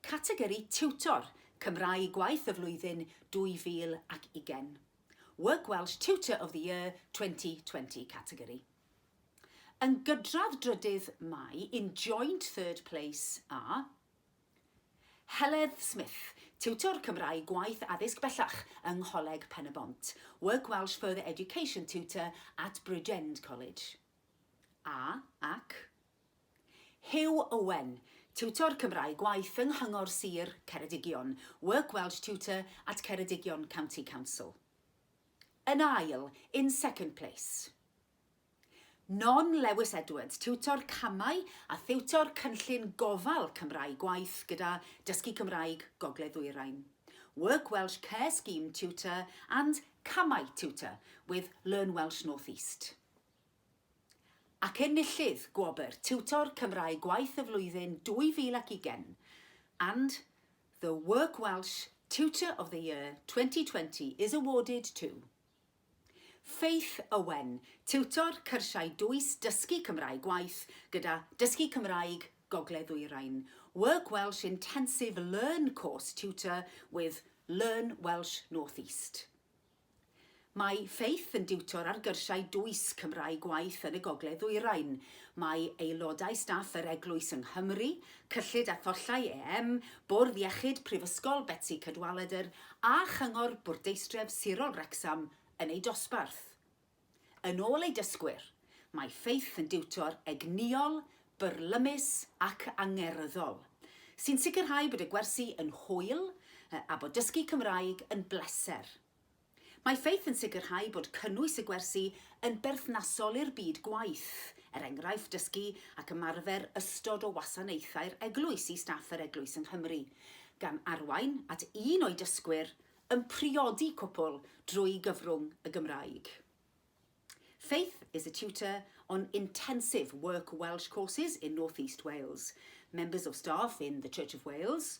Categori Tiwtor, Cymraeg Gwaith y Flwyddyn 2020. Work Welsh Tutor of the Year 2020 categori. Yn gydradd drydydd mae in joint third place a Heledd Smith, tiwtor Cymraeg gwaith addysg bellach yng Ngholeg Pen-y-bont, Work Welsh Further Education Tutor at Bridgend College. A, ac. Huw Owen, tiwtor Cymraeg gwaith yng Nghyngor Sir Ceredigion, Work Welsh Tutor at Ceredigion County Council. Yn ail, in second place. Non Lewis Edwards, tiwtor camau a thiwtor cynllun gofal Cymraeg gwaith gyda Dysgu Cymraeg Gogledd Ddwyrain, Work Welsh Care Scheme Tutor and Camau Tutor with Learn Welsh North East. Ac enillydd gwobr Tiwtor Cymraeg Gwaith y Flwyddyn 2020 and the Work Welsh Tutor of the Year 2020 is awarded to Faith Owen, tiwtor cyrsiau dwys Dysgu Cymraeg Gwaith gyda Dysgu Cymraeg Gogledd-ddwyrain, Work Welsh Intensive Learn Course Tutor with Learn Welsh North East. Mae Faith yn diwtor ar gyrsiau dwys Cymraeg Gwaith yn y Gogledd-ddwyrain. Mae aelodau staff yr Eglwys yng Nghymru Cyllid a Thollau EM, Bwrdd Iechyd Prifysgol Betsi Cadwaladr a Chyngor Bwrdeistref Sirol Wrecsam yn eu dosbarth. Yn ôl eu dysgwyr, mae Faith yn diwtor egnïol, byrlymus ac angerddol, sy'n sicrhau bod y gwersi yn hwyl a bod dysgu Cymraeg yn bleser. Mae Faith yn sicrhau bod cynnwys y gwersi yn berthnasol i'r byd gwaith, er enghraifft dysgu ac ymarfer ystod o wasanaethau'r eglwys i staff yr eglwys yng Nghymru, gan arwain at un o'i dysgwyr yn priodi cwpwl drwy gyfrwng y Gymraeg. Faith is a tutor on intensive work Welsh courses in North East Wales, members of staff in the Church of Wales,